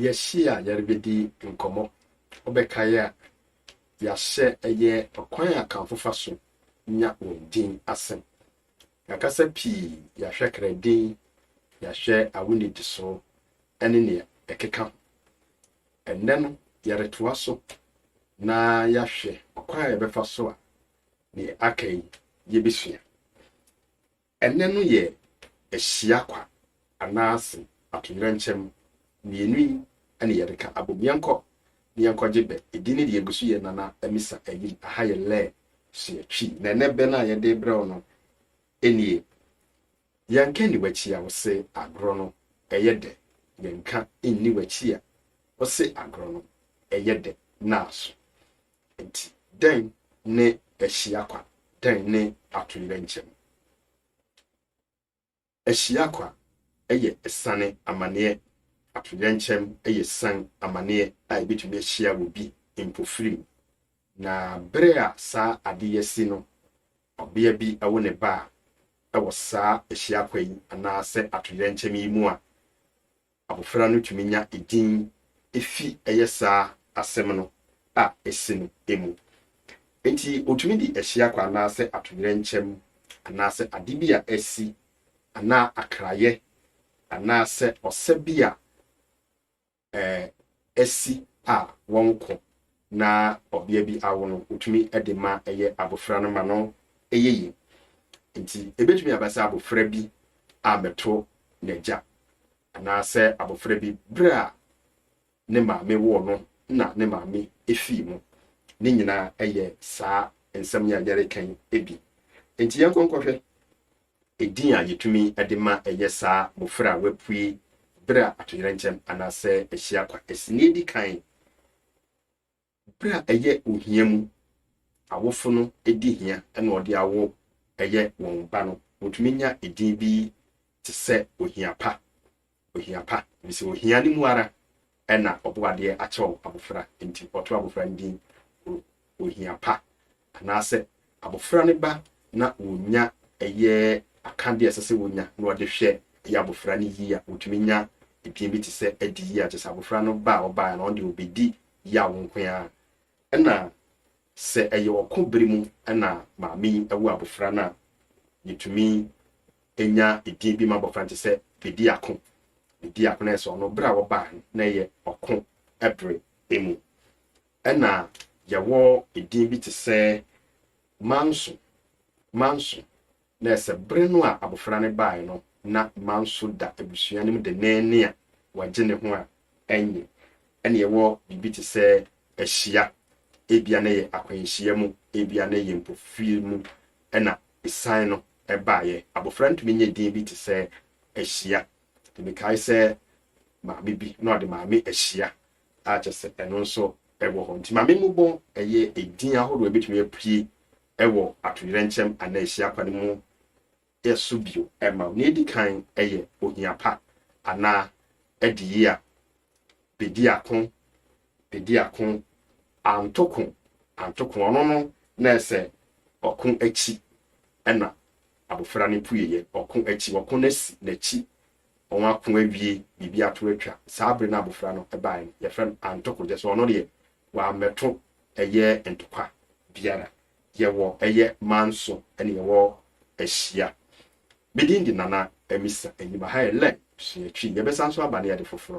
Yɛahyia a yɛrebɛdi nkɔmmɔ. Wobɛkae a, yɛahyɛ ɛyɛ ɔkwan a Akanfo fa so nya wɔn din ase. Yɛakasa pii, yɛahwɛ kra din, yɛahwɛ awo nnidiso ne nea ɛkeka ho. Ɛnnɛ no, yɛretoa so na yɛahwɛ ɔkwan a yɛbɛfa so a nea aka yi yebesua. Ɛnnɛ no yɛ ahyia kwa anaase atoyerɛnkyɛm mmienu yi na yɛde ka abom. Yɛnkɔ na yɛnkɔgye bɛ. Edin no deɛ egu so yɛ Nana Amisa Ayim. Aha yɛ Lɛɛ so yɛ Twi. Na ɛnnɛ bɛ no a yɛde rebrɛ wo no nie, Yɛnka nni w'akyi a wose agorɔ no ɛyɛ dɛ Yɛnka nni w'akyi a wose agorɔ no ɛyɛ dɛ Naaso Enti, dɛn ne ahyia kwa? Dɛn ne atoyerɛnkyɛm? Ahyia kwa yɛ asiane amanneɛ. Atoyerɛnkyɛm yɛ asiane amanneɛ a ebetumi ahyia obi mpofirim. Na bere a saa ade yi asi no, ɔbea bi awo ne ba a ɛwɔ saa ahyia kwa yi anaasɛ atoyerɛnkyɛm yi mu a, Abofra no tumi nya edin fi ɛyɛ saa asɛm no a ese no mu. Enti otumi de ahyia kwa anaasɛ atoyerɛnkyɛm anaasɛ ade bi a asi anaa akrayɛ anaasɛ ɔsa bi a asi a wɔnkɔ na ɔbea bi awo no, wotumi de ma ɛyɛ abofra no ma no yɛ yie. Enti ebetumi aba sɛ abofra bi ammɛto n'agya, anaasɛ abofra bi bere a ne maame woo no na ne maame fii mu. Ne nyinaa yɛ saa nsɛm yi a yɛreka yi bi. Enti yɛnkɔ nkɔhwɛ Edin a yetumi de ma ɛyɛ saa mmofra a wɔapue bere a atoyerɛnkyɛm anaasɛ ahyia kwa asi na edi kan. Bere a ɛyɛ ohia mu awofo no di hia na wɔde awo yɛ wɔn ba no, wotumi nya edin bi te sɛ Ohia Pa Ohia pa, efisɛ ohia no mu ara na Ɔbɔadeɛ akyɛw abofra. Enti ɔtoo abofra no din Ohia Pa, anaasɛ abofra no ba na wonya ɛyɛ akade a ɛsɛ sɛ wonya na wɔde hwɛ ɛyɛ abofra no yie a, wotumi nya edin bi te sɛ Adi Yie a kyerɛ sɛ abofra no ba a ɔbaeɛ no ɔno deɛ ɔbɛdi yaw nko ara. Ɛna sɛ ɛyɛ ɔko bere mu na maame yi awo abofra no a, yɛtumi nya edin bi ma abɔfra no te sɛ Bediako. Bediako no ayɛ sɛ ɔno bere a wɔbaa no na ɛyɛ ɔko bere mu. Ɛna yɛwɔ edin bi te sɛ Manso. Manso na ɛyɛ sɛ bere no a abɔfra no baeɛ no na Manso da abusua no mu denneennen a wɔagye ne ho a ɛnye. Ɛna yɛwɔ biribi te sɛ Ahyia. Ebia na ɛyɛ akwanhyia mu, ebia na ɛyɛ mpofirim mu. Ɛna Esan no baeɛ. Abɔfra ntumi nyɛ din bi te sɛ Ahyia. Nti mekae sɛ maame bi na ɔde Maame Ahyia a kyerɛ sɛ ɛno nso wɔ hɔ. Nti Maame Mmobɔ yɛ edin ahorow a ɛbɛtumi apue wɔ atoyerɛnkyɛm anaa ahyia pa no mu so bio ma wo. Nea ɛdi kan yɛ ohia pa anaa adiyie a bɛdi ako Bedi ako, anto ko, anto ko, ɔno no na ɛsɛ ɔko akyi ɛna abofra no pueeɛ, ɔko akyi, ɔko no asi n'akyi, wɔn ako awie, biribi ato atwa, saa bere no abofra no baeɛ no, yɛfrɛ no anto ko, gyɛ sɛ ɔno deɛ wammɛto ɛyɛ ntokwa biara. Yɛwɔ ɛyɛ manso ɛne yɛwɔ ahyia. Me din de Nana Amisa Enyimahayɛ Lɛn Suatwi. Yɛbɛsan so aba ne ade foforɔ.